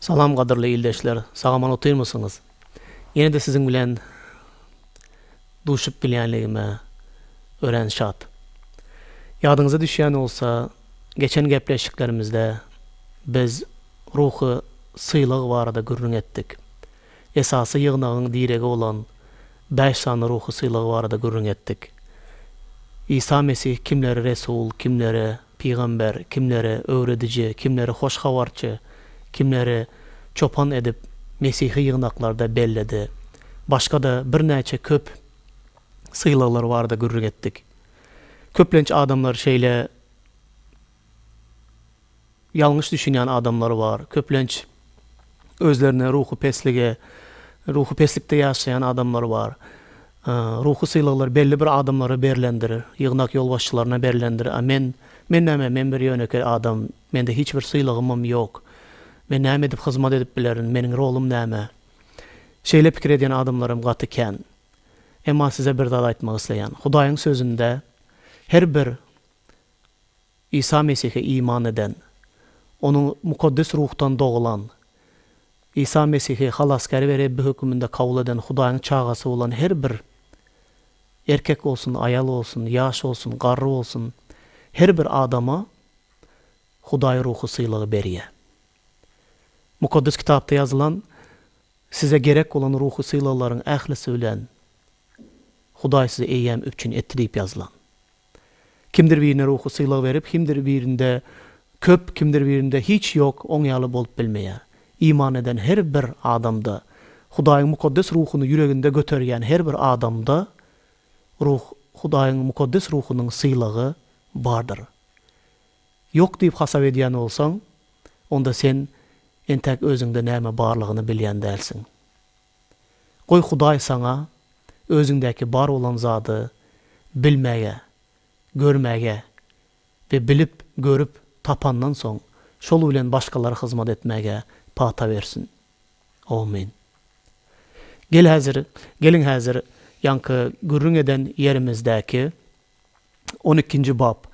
Salam gadyrly ildeşler sagaman otyrmysyňyz ýene-de siziň bilen duşup bilýänligime örän şat. Ýadyňyza düşýän bolsa geçen gepleşiklerimizde biz ruhy sylag barada gürrüň etdik. Esasy ýygnagyň diregi bolan bäş sany ruhy sylag barada gürrüň etdik. Isa Mesih kimleri resul, kimleri Pygamber, kimleri öwrediji, kimleri hoş habarçy, kimleri çopan edip mesihi ýygnaklarda belledi. Başga-da birnäçe köp sylaglar barada gürrüň etdik. Köplenç adamlar şeýle ýalňyş düşünýän adamlar bar, köplenç. özlerine ruhy peslige, ruhy peslikde ýaşaýan adamlar bar. Ruhy sylaglar belli bir adamlara berlendir, ýygnak ýolbaşçylaryna berlendir. A men, men näme, men bir ýönekeý adam, mende hiç bir sylagymam ýok. Men näme edip hyzmat edip bilerin, meniň rolum näme? Şeýle pikir edýän adamlaram gaty kän. Emma size bir zat aýtmak isleýän. Hudaýyň sözünde her bir Isa Mesihe iman eden, Onuň Mukaddes Ruhdan dogulan, Isa Mesihi Halasgär we Rebbi höküminde kabul eden Hudaýyň çagasy bolan her bir erkek bolsun, aýal bolsun, ýaş bolsun, garry bolsun, her bir adama Hudaý Ruhy sylagy berýär. Mukaddes Kitapda ýazylan, Size gerek bolan ruhy sylaglaryň ählisi bilen Hudaý sizi eýýäm üpjün etdi diýip ýazylan. Kimdir birine ruhy sylag berip, kimdir birinde köp, kimdir birinde hiç ýok, oň ýaly bolup bilmeýär. Iman eden her bir adamda, Hudaýyň mukaddes ruhuny ýüreginde göterýän her bir adamda Ruh, Hudaýyň mukaddes ruhunyň sylagy bardyr. Ýok diýip hasap edýän bolsaň, onda sen entäk özüňde näme barlygyny bilýän dälsiň. Goý Hudaý saňa özüňdäki bar bolan zady bilmäge, görmäge we bilip, görüp, tapandan soň şol bilen başgalara hyzmat etmäge pata bersin. Amin. Gel häzir, geliň häzir ýaňky gürrüň eden ýerimizdäki on ikinji bap,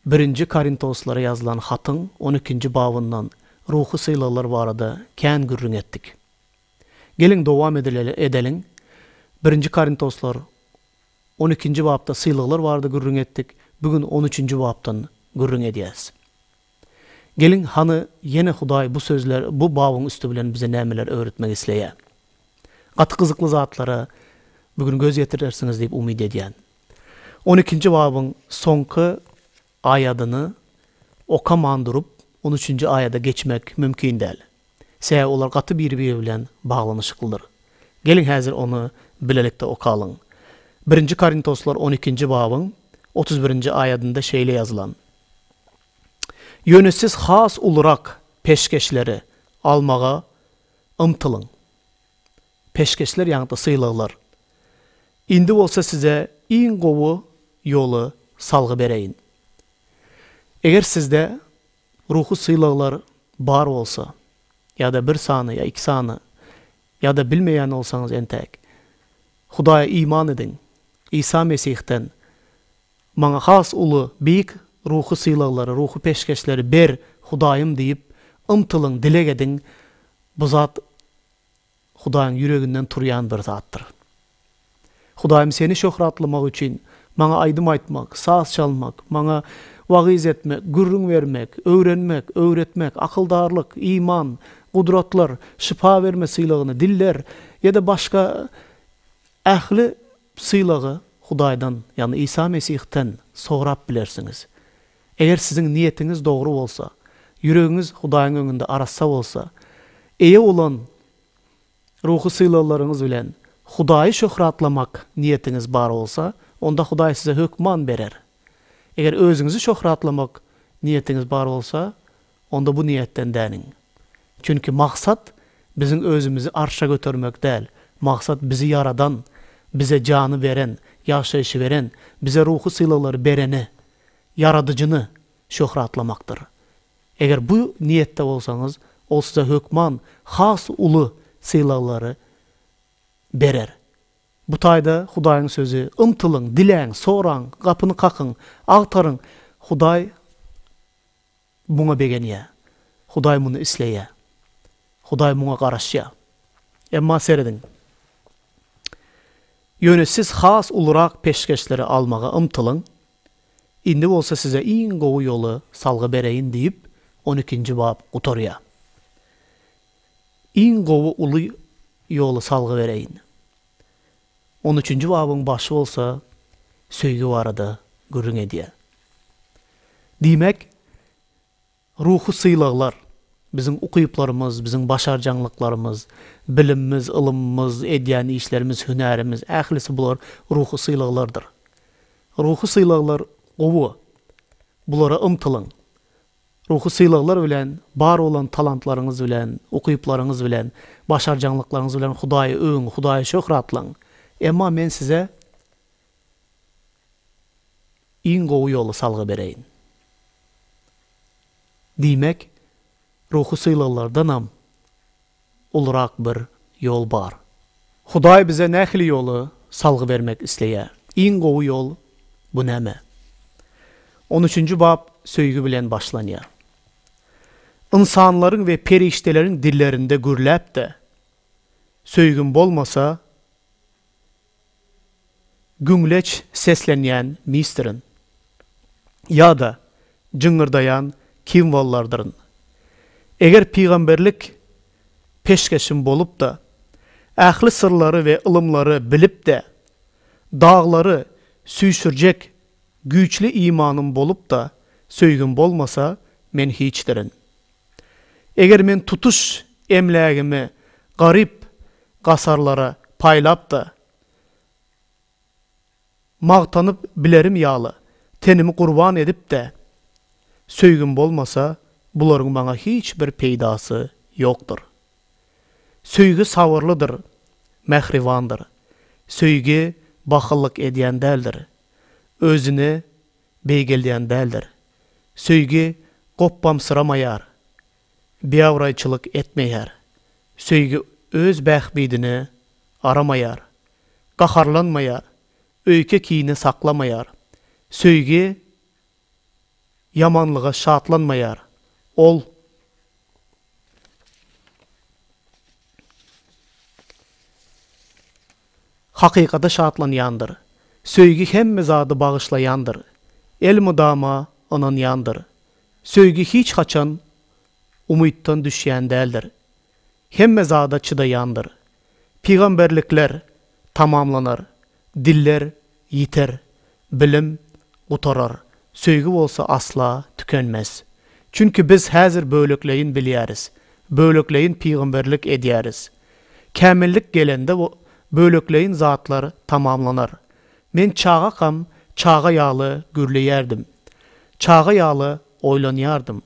Birinji Korintoslara ýazylan hatyň on ikinji babyndan ruhy sylaglar barada kän gürrüň etdik. Geliň, dowam edileli, edeliň. Birinji Korintoslar on ikinji bapda sylaglar barada gürrüň etdik, bu gün on üçünji bapdan gürrüň edýäs. Geliň, hany, ýene Hudaý bu sözler, bu babyň üsti bilen bize nämeler öwretmek isleýä? Gaty gyzykly zatlara bu gün göz ýetirersiňiz diýip umyt edýän. On ikinji babyň soňky Aýadyny okaman durup, on üçünji aýada geçmek mümkin däl. Sebäbi olar gaty biri-biri bilen baglanyşyklydyr. Geliň häzir ony bilelikde okalyň. Birinji Korintoslar on ikinji babyň otuz birinji aýadynda şeýle ýazylan, Ýöne siz has ulurak peşgeşleri almaga ymtylyň. peşgeşler ýagny-da sylaglar. Indi bolsa size iň gowy ýoly salgy bereýin. Eger sizde ruhy sylaglar bar bolsa ýa-da bir sany ýa iki sany ýa-da bilmeýän bolsaňyz entäk, Hudaýa iman ediň, Isa Mesihden maňa has uly, beýik ruhy sylaglary, ruhy peşgeşleri ber, Hudaýym diýip ymtylyň, dileg ediň, Bu zat Hudaýyň ýüreginden turýan bir zatdyr. Hudaýym Seni şöhratlamak üçin, maňa aýdym aýtmak, saz çalmak, maňa wagyz etmek, gürrüň bermek, öwrenmek, öwretmek, akyldarlyk, iman, gudratlar, şypa berme sylagyny, diller ýa-da başga ähli sylagy Hudaýdan, ýagny Isa Mesihden sorap bilersiňiz. Eger siziň niýetiňiz dogry bolsa, ýüregiňiz Hudaýyň öňünde arassa bolsa, eýe bolan ruhy sylaglaryňyz bilen Hudaýy şöhratlamak niýetiňiz bar bolsa, onda Hudaý size hökman berer. Eger özüňizi şöhratlamak niýetiňiz bar bolsa, onda bu niýetden däniň. Çünki maksat biziň özümizi arşa götermek däl, maksat bizi ýaradan, bize jany beren, ýaşaýşy beren, bize ruhy sylaglary berene Ýaradyjyny şöhratlamakdyr. Eger bu niýetde bolsaňyz, Ol size hökman has uly sylaglary berer. Bu taýda Hudaýyň Sözi, Ymtylyň, diläň, soraň, gapyny kakyň, agtaryň, Hudaý Muňa begenýär. Hudaý muny isleýär. Hudaý muňa garaşýar. Emma serediň. Ýöne siz has ulurak peşgeşleri almaga ymtylyň. Indi bolsa size iň gowy ýoly salgy bereýin diýip, on ikinji bap gutarýar. Iň gowy uly ýoly salgy bereýin. On üçünji babyň başy bolsa söýgi barada gürrüň edýär. Diýmek, ruhy sylaglar, biziň ukyplarymyz, biziň başarjaňlyklarymyz, bilimimiz, ylymymyz, edýän işlerimiz, hünärimiz, ählisi bular ruhy sylaglardyr. Ruhy sylaglar gowy, bulara ymtylyň. Ruhy sylaglar bilen, bar bolan talantlaryňyz bilen, ukyplaryňyz bilen, başarjaňlyklaryňyz bilen Hudaýy öwüň, Hudaýy şöhratlaň. Emma men size iň gowy ýoly salgy bereýin. Diýmek, ruhy sylaglardanam, Ulurak bir ýol bar. Hudaý bize nähili ýoly salgy bermek isleýär? Iň gowy ýol bu näme? On üçünji bap söýgi bilen başlanýar. Ynsanlaryň we perişdeleriň dillerinde gürläp-de, Söýgim bolmasa, Güňleç seslenýän misdirin. Ýa-da jyňňyrdaýan kimwollardyryn. Eger pygamberlik peşgeşim bolup-da, ähli syrlary we ylymlary bilip-de, daglary süýşürjek güýçli imanym bolup-da, söýgim bolmasa, men hiçdirin. Eger men tutuş emlägimi garyp gasarlara paýlap-da, magtanyp bilerim ýaly, tenimi gurban edip-de söýgim bolmasa, bularyň maňa hiç bir peýdasy ýokdur. Söýgi sabyrlydyr, mähribandyr. Söýgi bahyllyk edýän däldir. Özüni beýgeldýän däldir. Söýgi gopbamsyramaýar, biabraýçylyk etmeýär. Söýgi öz bähbidini aramaýar, gaharlanmaýar, öýke-kini saklamaýar. Söýgi ýamanlyga şatlanmaýar, ol. Hakykata şatlanýandyr. Söýgi hemme zady bagyşlaýandyr. Elmydama ynanýandyr. Söýgi hiç haçan umytdan düşýän däldir. Hemme zada çydaýandyr. Pygamberlikler tamamlanar, diller Ýiter, bilim gutarar, söýgi bolsa asla tükenmez. Çünki biz häzir bölekleýin bilýäris, bölekleýin pygamberlik edýäris. Kämillik gelende bu bölekleýin zatlar tamamlanar. Men çagakam çaga ýaly gürleýärdim. Çaga ýaly oýlanýardym.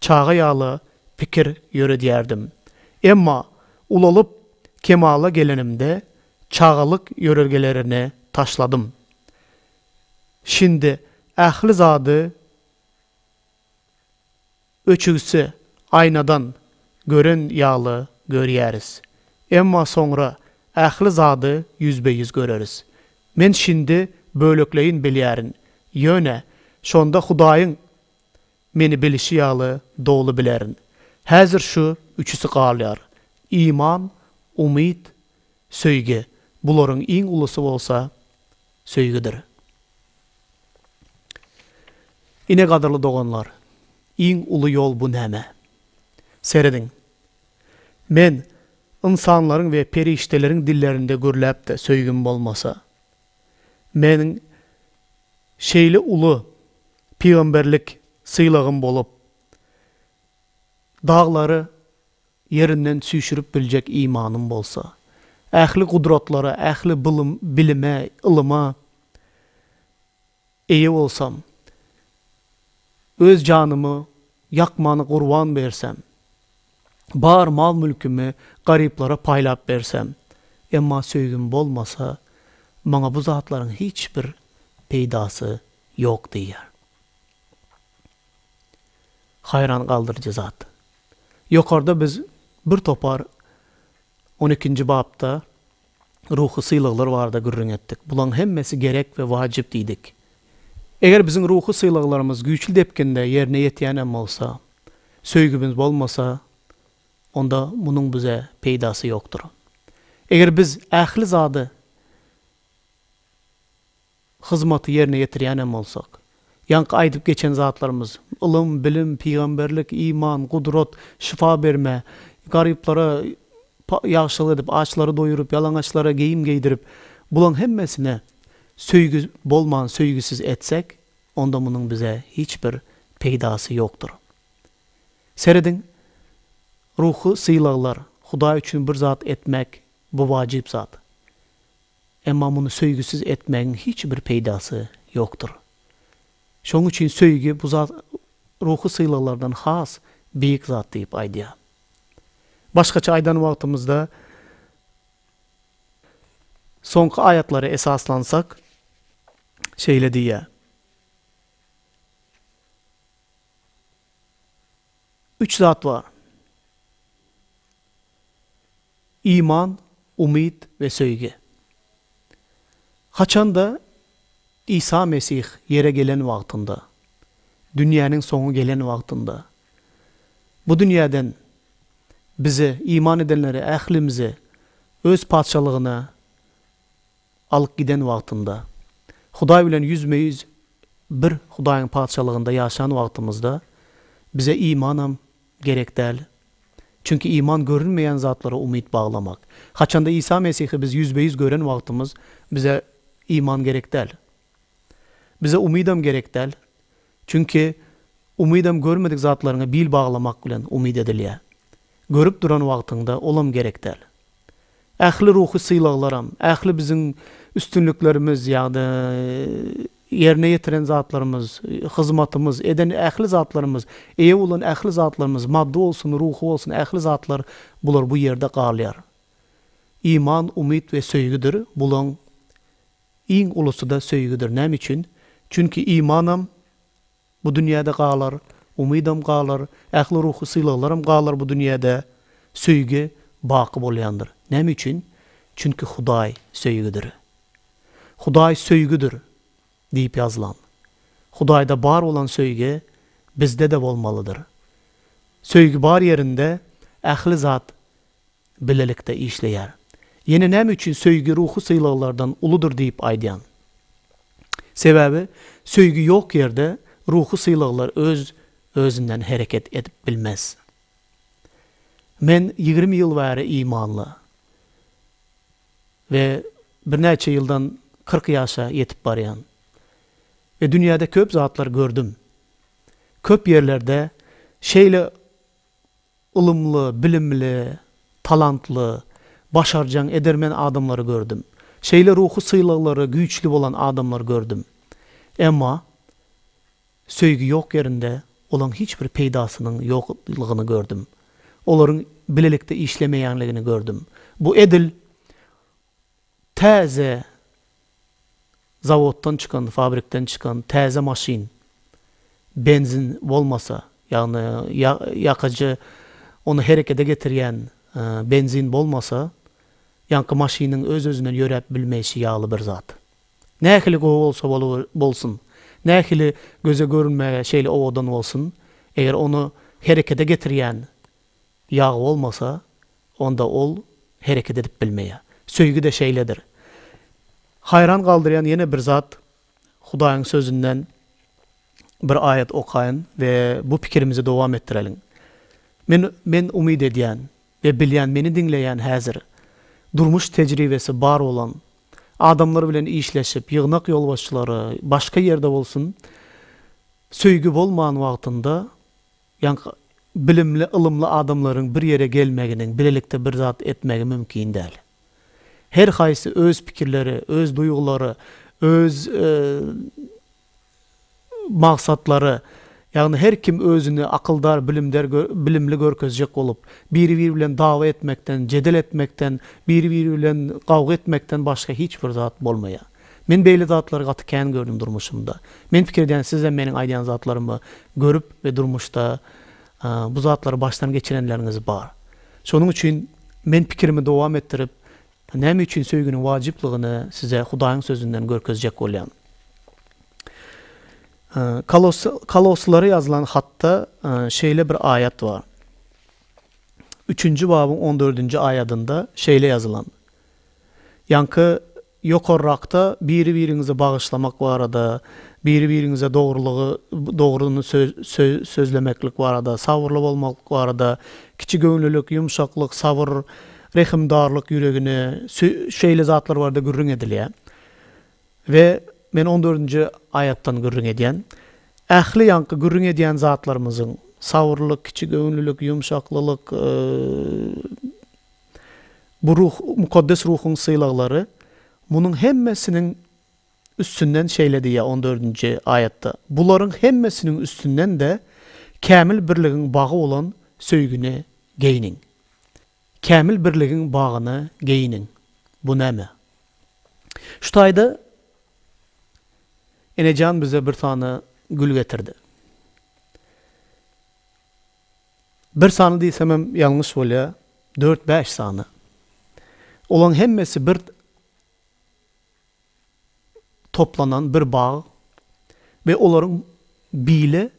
Çaga ýaly pikir ýöredýärdim. Emma ulalyp kemala gelenimde çagalyk ýörelgelerini taşladym. Şindi ähli zady öçügsi aýnadan gören ýaly görýäris. Emma soňra ähli zady ýüzbe-ýüz göreris. Men şindi bölekleýin bilýärin, ýöne şonda Hudaýyň Meni bilişi ýaly doly bilerin. Häzir şu üçüsi galýar. Iman, umyt, söýgi. Bularyň iň ulusy bolsa söýgidir. Ine gadyrly doganlar, iň uly ýol bu näme? Serediň. Men, ynsanlaryň we perişdeleriň dillerinde gürläp-de söýgim bolmasa, Meniň şeýle uly pygamberlik sylagym bolup, daglary ýerinden süýşürip biljek imanym bolsa, ähli gudratlara, ähli bilime, ylyma Eýe bolsam, öz janymy ýakmana gurban bersem, bar mal-mülkümi garyplara paýlap bersem, emma söýgim bolmasa, maňa bu zatlaryň hiç bir peýdasy ýok diýýär. Haýran galdyryjy zat. Ýokarda biz bir topar on ikinji bapda. ruhy sylaglar barada gürrüň etdik. Bulaň hemmesi gerek we wajyp diýdik. Eger biziň ruhy sylaglarymyz güýçli depginde ýerine ýetýän hem bolsa, söýgimiz bolmasa, onda munuň bize peýdasy ýokdur. Eger biz ähli zady. hyzmaty ýerine ýetirýän hem bolsak, ýaňky aýdyp geçen zatlarymyz, ylym, bilim, pygamberlik, iman, gudrat, şypa berme, garyplara ýagşylyk edip, açlary doýuryp, ýalaňaçlara geýim geýdirip, bulaň hemmesine söýgi bolman söýgisiz etsek, onda munuň bize hiç bir peýdasy ýokdur. Serediň, ruhy sylaglar, Hudaý üçin bir zat etmek, bu wajyp zat. Emma muny söýgüsiz etmegiň hiç bir peýdasy ýokdur. Şonuň üçin söýgi bu zat ruhy sylaglardan has beýik zat diýip aýdýar. Başgaça aýdan wagtymyzda, soňky aýatlara esaslansak, şeýle diýýär. Üç zat bar. Iman, umyt we söýgi. Haçanda Isa Mesih ýere gelen wagtynda, dünýäniň soňy gelen wagtynda, bu dünýäden bize, iman edenlere, ählimize Öz Patyşalygyna Alyp giden wagtynda. Hudaý bilen ýüzme-ýüz bir Hudaýyň Patyşalygynda ýaşan wagtymyzda bize imanam gerek däl. Çünki iman görünmeýän zatlara umyt baglamak. Haçanda Isa Mesihi biz ýüzbe-ýüz gören wagtymyz bize iman gerek däl. Bize umydam gerek däl. Çünki umydam görmedik zatlaryňa bil baglamak bilen umyt edilýär. Görüp duran wagtyňda olam gerek däl. Ähli ruhy sylaglaram, ähli biziň üstünliklerimiz ýa-da ýerine ýetiren zatlarymyz, hyzmatymyz, eden ähli zatlarymyz, eýe bolan ähli zatlarymyz, maddy bolsun, ruhy bolsun ähli zatlar bular bu ýerde galýar. Iman, umyt we söýgüdir bulaň Iň ulusy-da söýgüdir. Näme üçin? Çünki imanam bu dünýäde galar, umydam galar, ähli ruhy sylaglaram galar bu dünýäde, söýgi baky bolýandyr. Näme üçin? Çünki Hudaý söýgüdir. Hudaý söýgüdir diýip ýazylan. Hudaýda bar bolan söýgi bizde-de bolmalydyr. Söýgi bar ýerinde ähli zat bilelikde işleýär. Ýene näme üçin söýgi ruhy sylaglardan uludyr diýip aýdýan? Sebäbi söýgi ýok ýerde ruhy sylaglar öz özünden hereket edip bilmez. Men ýigrimi ýyl bäri imanly we birnäçe ýyldan kyrk ýaşa ýetip barýan we dünýäde köp zatlar gördüm. Köp ýerlerde şeýle Ylymly, bilimli, talantly, başarjaň, edermen adamlary gördüm. Şeýle ruhy sylaglary güýçli bolan adamlary gördüm. Emma söýgi ýok ýerinde olaň hiç bir peýdasynyň ýoklygyny gördüm. Olaryň bilelikde işlemeýänligini gördüm. Bu edil Täze zawoddan çykan, fabrikden çykan täze maşyn benzin bolmasa, ýagny ýakyjy ony herekete getirýän benzin bolmasa, ýaňky maşynyň öz-özünden ýöräp bilmeýşi ýaly bir zat. Nähili gowy bolsa bolsun, nähili göze görünmäge şeýle owadan bolsun, eger ony herekete getirýän Ýag bolmasa, onda ol hereket edip bilmeýär. Söýgi-de şeýledir. Haýran galdyrýan ýene bir zat, Hudaýyň Sözünden bir aýat okaýyn we bu pikirimizi dowam etdireliň. Men, men umyt edýän we bilýän meni diňleýän häzir durmuş tejribesi bar bolan, adamlar bilen işleşip, ýygnak ýolbaşçylary, başga ýerde bolsun, söýgi bolman wagtynda Ýaňky bilimli, ylymly adamlaryň bir ýere gelmeginiň, bilelikde bir zat etmegi mümkin däl. Her haýsy öz pikirleri, öz duýgulary, öz magsatlary, ýagny her kim özüni akyldar, bilimder, bilimli görkezjek bolup, biri-biri bilen dawa etmekden, jedel etmekden, biri-biri bilen gawga etmekden başga hiç bir zat bolmaýar. Men beýle zatlary gaty kän gördüm durmuşymda. Men pikir edýän sizem meniň aýdýan zatlarymy görüp we durmuşda bu zatlary başdan geçirenleriňiz bar. Şonuň üçin men pikirimi dowam etdirip näme üçin söýginiň wajyplygyny size Hudaýyň sözünden görkezjek bolýan. Kolosslara ýazylan hatda şeýle bir aýat bar. Üçünji babyň on dördünji aýadynda şeýle ýazylan. Ýaňky Ýokarrakda biri-biriňizi bagyşlamak barada, biri-biriňize dogrulygy, dogryny sözlemeklik barada, sabyrly bolmaklyk barada, kiçigöwünlilik, ýumşaklyk, sabyr, rehimdarlyk ýüregini, şeýle zatlar barada gürrüň edilýär. We men on dördünji aýatdan gürrüň edýän. Ähli ýaňky gürrüň edýän zatlarymyzyň, sabyrlylyk, kiçigöwünlilik, ýumşaklylyk, Bu Ruh, Mukaddes Ruhuň sylaglary, munuň hemmesiniň üstünden şeýle diýýär on dördünji aýatda, Bularyň hemmesiniň üstünden-de kämil birligiň bagy bolan söýgini geýniň. Kämil birligiň bagyny geýiniň. Bu näme? Şu taýda enejan bize bir sany gül getirdi. Bir sany diýsemem ýalňyş bolýa, dört-bäş sany. Olaň hemmesi bir toplanan bir bag we olaryň bile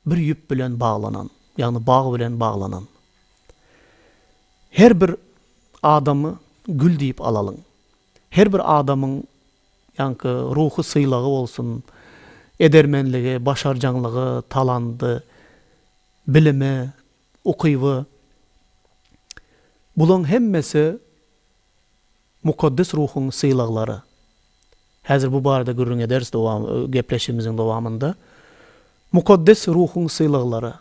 bir ýüp bilen baglanan, ýagny bag bilen baglanan. Her bir adamy gül diýip alalyň. Her bir adamyň ýaňky ruhy sylagy bolsun, edermenligi, başarjaňlygy, talandy, bilimi, ukyby, bulaň hemmesi Mukaddes Ruhuň sylaglary. Häzir bu barada gürrüň ederis dowam gepleşigimiziň dowamynda. Mukaddes Ruhuň sylaglary,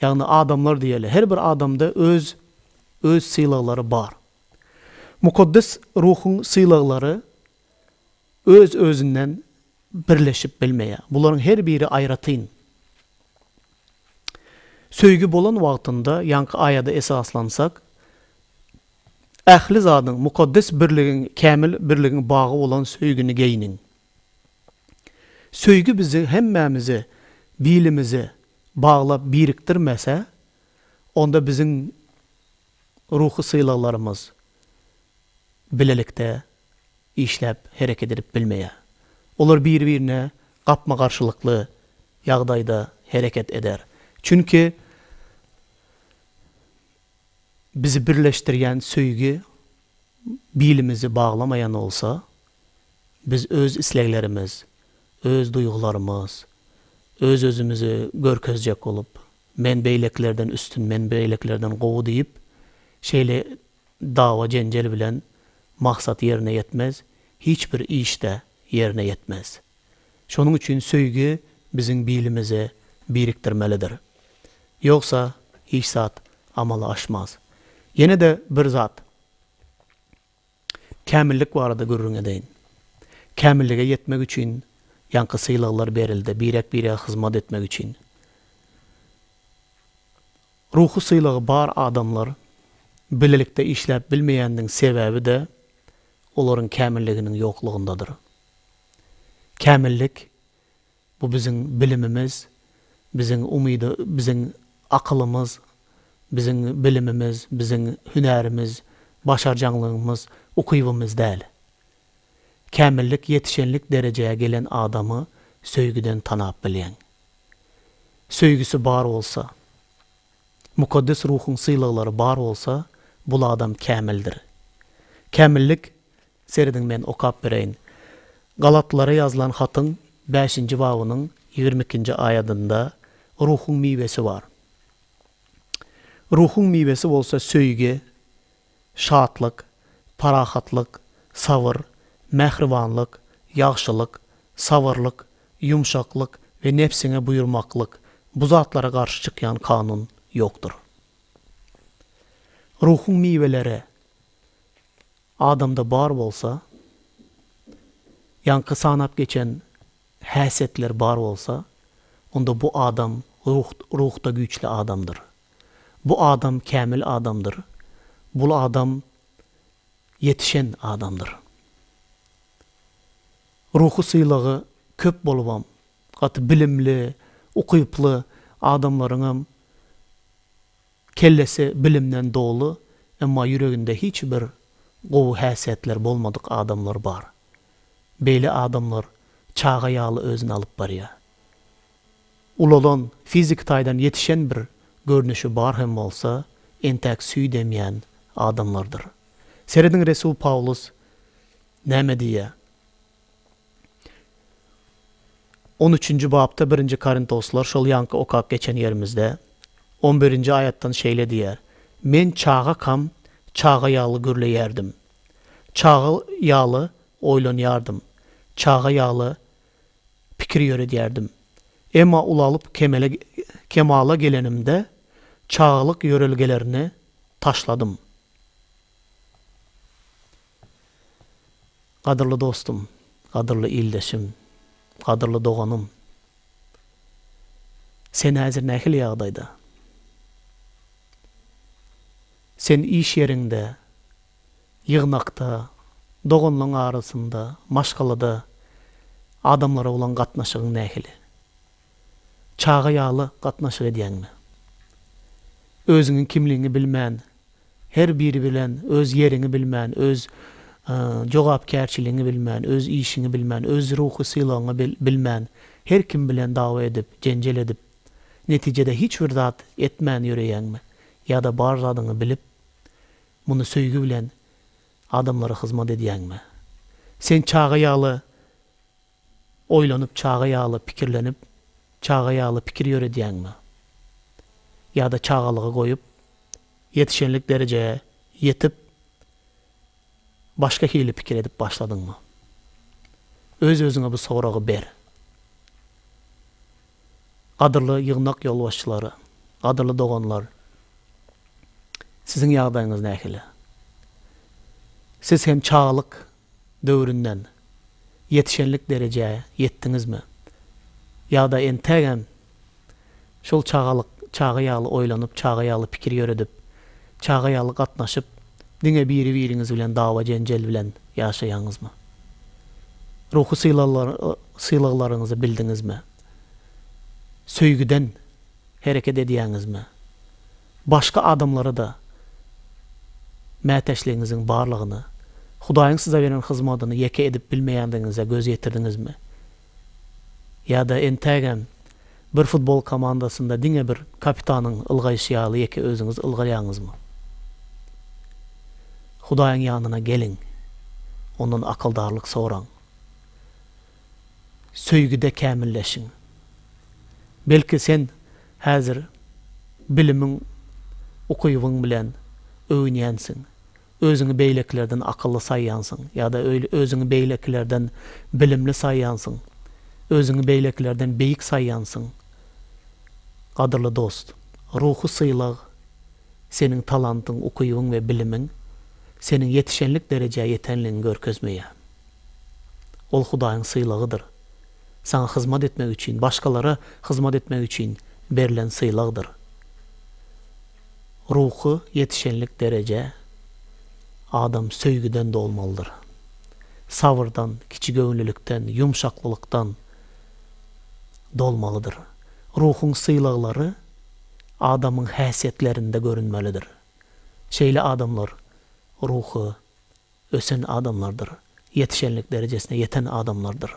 ýagny adamlar diýeli, her bir adamda öz öz sylaglary bar. Mukaddes Ruhuň sylaglary öz-özünden birleşip bilmeýär. Bularyň her biri aýratyn. Söýgi bolan wagtynda, ýaňky aýada esaslansak, ähli zadyň, mukaddes birligiň, kämil birligiň bagy bolan söýgini geýniň. Söýgi bizi hemmämizi bilimize baglap birikdirmese, onda biziň. Ruhy sylaglarymyz bilelikde işläp, hereket edip bilmeýär. Olar bir-birine gapma-garşylykly ýagdaýda hereket eder. Çünki bizi birleşdirýän söýgi bilimizi baglamaýan bolsa, biz öz isleglerimiz, öz duýgularymyz, öz-özümizi görkezjek bolup Men beýlekilerden üstün, men beýlekilerden gowy diýip, şeýle dawa-jenjel bilen maksat ýerine ýetmez, hiç bir iş-de ýerine ýetmez. Şonuň üçin söýgi biziň bilimizi birikdirmelidir. Ýogsa hiç zat amala aşmaz. Ýene-de bir zat. Kämillik barada gürrüň edeýin. Kämillige ýetmek üçin ýaňky sylaglar berildi, birek-birege hyzmat etmek üçin. Ruhy sylagy bar adamlar bilelikde işläp bilmeýäniniň sebäbi-de olaryň kämilliginiň ýoklugyndadyr. Kämillik Bu biziň bilimimiz, biziň umyda biziň akylymyz, biziň bilimimiz, biziň hünärimiz, başarjaňlygymyz, ukybymyz däl. Kämillik ýetişenlik derejä gelen adamy söýgüden tanap bilýäň. Söýgüsi bar bolsa, Mukaddes Ruhuň sylaglary bar bolsa, bul adam kämildir. Kämillik Serediň men okap bereýin. Galatlara ýazylan hatyň bäşinji babynyň ýigrimi ikinji aýadynda Ruhuň miwesi bar. Ruhuň miwesi bolsa söýgi, şatlyk, parahatlyk, sabyr, mähribanlyk, ýagşylyk, sabyrlyk, ýumşaklyk we nebsiňe buýurmaklyk, bu zatlara garşy çykýan kanun ýokdur. Ruhuň miweleri, Adamda bar bolsa, ýaňky sanap geçen häsiýetler bar bolsa, onda bu adam ruh, ruhda güýçli adamdyr. Bu adam kämil adamdyr. Bul adam ýetişen adamdyr. Ruhy sylagy köp bolubam, gaty bilimli, ukyply adamlaryňam Kellesi bilimden doly, emma ýüreginde hiç bir gowy häsiýetleri bolmadyk adamlar bar. Beýle adamlar çaga ýaly özüni alyp barýar. Ulalan, fiziki taýdan ýetişen bir görnüşi bar hem bolsa, entäk süýt emýän adamlardyr. Serediň resul Pawlus näme diýýär? On üçünji bapda birinji Korintoslar şol ýaňky okap geçen ýerimizde, on birinji aýatdan şeýle diýýär, Men çagakam çaga ýaly gürleýärdim, çaga ýaly oýlanýardym, çaga ýaly pikir ýöredýärdim. Emma ulalyp kemele, kemala gelenimde, çagalyk ýörelgelerini taşladym. Gadyrly dostum, gadyrly ildeşim, gadyrly doganym! Sen häzir nähili ýagdaýda? Sen iş ýeriňde, ýygnakda, doganlaň arasynda, maşgalada adamlara bolan gatnaşygyň nähili? Çaga ýaly gatnaşyk edýäňmi? Özüňiň kimligiňi bilmän, her biri bilen öz ýeriňi bilmän, öz jogapkärçiligiňi bilmän, öz işiňi bilmän, öz ruhy sylagyňy bilmän, her kim bilen dawa edip, jenjel edip, netijede hiç bir zat etmän ýöreýäňmi? Ýa-da bar zadyňy bilip, muny söýgi bilen adamlara hyzmat edýäňmi? Sen çaga ýaly Oýlanyp çaga ýaly pikirlenip çaga ýaly pikir ýöredýäňmi? Ýa-da çagalygy goýup, ýetişenlik derejä ýetip başga hili pikir edip başladyňmy? Öz-özüňe bu soragy ber. Gadyrly ýygnak ýolbaşçylary, gadyrly doganlar, siziň ýagdaýyňyz nähili? Siz hem çagalyk döwründen ýetişenlik derejä ýetdiňizmi? Ýa-da entägem şol çagalyk çagy ýaly oýlanyp, çagy ýaly pikir ýöredip, çagy ýaly gatnaşyp, diňe biri-biriňiz bilen dawa-jenjel bilen ýaşaýaňyzmy? Ruhy sylaglaryňyzy bildiňizmi? Söýgüden hereket edýäňizmi? Başga adamlara-da mätäçligiňiziň barlygyny, Hudaýyň size beren hyzmadyny ýeke edip bilmeýändigiňize göz ýetirdiňizmi? Ýa-da entägem bir futbol komandasynda diňe bir kapitanyň ylgaýşy ýaly ýeke özüňiz ylgaýaňyzmy? Hudaýyň ýanyna geliň, Ondan akyldarlyk soraň. söýgide kämilleşiň. Belki sen häzir bilimiň, ukybyň bilen öwünýänsiň, özüňi beýlekilerden akylly saýýansyň ýa-da özüňi beýlekilerden bilimli saýýansyň, özüňi beýlekilerden beýik saýýansyň. Gadyrly dost, ruhy sylag seniň talantyň, ukybyň we bilimiň seniň ýetişenlik derejä ýetenligiňi görkezmeýär. Ol Hudaýyň sylagydyr. Saňa hyzmat etmek üçin, başgalara hyzmat etmek üçin berlen sylagdyr. Ruhy ýetişenlik dereje adam söýgüden dolmalydyr. Sabyrdan, kiçigöwünlilikden, ýumşaklylykdan dolmalydyr. Ruhuň sylaglary adamyň häsiýetlerinde görünmelidir. Şeýle adamlar ruhy ösen adamlardyr, ýetişenlik derejesine ýeten adamlardyr.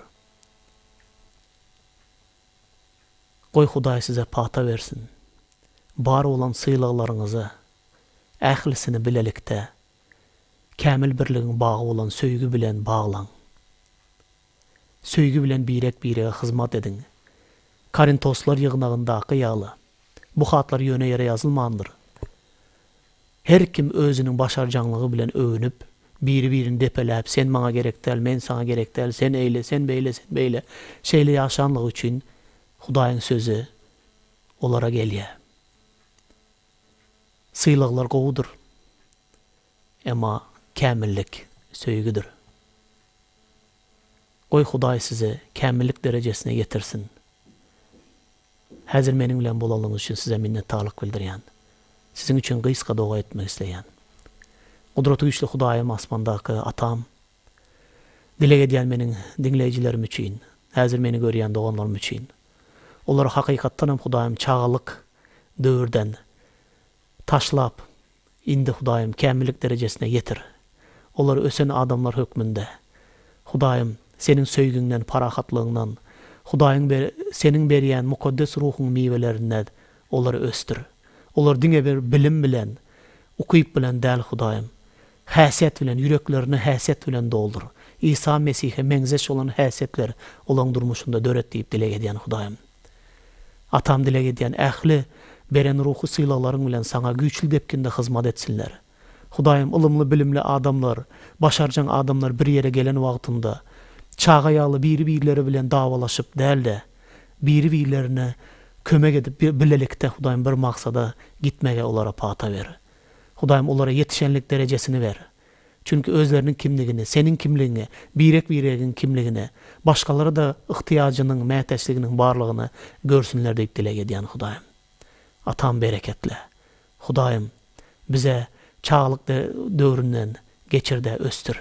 Goý Hudaý size pata bersin. Bar bolan sylaglaryňyzy, ählisini bilelikde, kämil birligiň bagy bolan söýgi bilen baglaň. Söýgi bilen birek-birege hyzmat ediň. Korintoslar ýygnagyndaky ýaly, bu hatlar ýöne ýere ýazylmandyr. Her kim özüniň başarjaňlygy bilen öwünip, biri-birini depeläp, sen maňa gerek däl, men saňa gerek däl, sen eýle, sen beýle, sen beýle, şeýle ýaşanlygy üçin Hudaýyň sözi olara gelýär. Sylaglar gowudyr. Emma kämillik söýgüdir. Goý Hudaý sizi kämillik derejesine ýetirsin. Häzir meniň bilen bolanyňyz üçin size minnetdarlyk bildirýän. Siziň üçin gysga doga etmek isleýän. Gudraty güýçli Hudaýym asmandaky Atam dileg edýän meniň diňleýjilerim üçin, häzir meni görýän doganlarym üçin. Olary hakykatdan hem Hudaýym çagalyk döwürden taşlap Indi, Hudaýym, kämillik derejesine ýetir. Olar ösen adamlar hökmünde. Hudaýym, Seniň söýgiňden, parahatlygyňdan, Hudaýyň be, Seniň berýän Mukaddes Ruhuň miwelerinden olary ösdür. Olar diňe bir bilim bilen, ukyp bilen däl, Hudaýym. Häsiýet bilen, ýüreklerini häsiýet bilen doldur. Isa Mesihe meňzeş bolan häsiýetleri olaryň durmuşynda döret diýip dileg edýän, Hudaýym. Atam dileg edýän ähli beren ruhy sylaglaryň bilen saňa güýçli depginde hyzmat etsinler. Hudaýym ylymly bilimli adamlar, başarjaň adamlar bir ýere gelen wagtynda çaga ýaly biri birleri bilen dawalaşyp dälde biri birlerine kömek edip bir bilelikde Hudaýym bir maksada gitmege olara pata ber. Hudaýym olara ýetişenlik derejesini ber. Çünki özleriniň kimligini, seniň kimligiňi, birek-biregiň kimligini, başgalara-da yhtyýajynyň, mätäçliginiň barlygyny görsünler diýip dileg edýän Hudaýym. Atam bereketle. Hudaýym bize çagalyk döwründen geçir-de ösdür.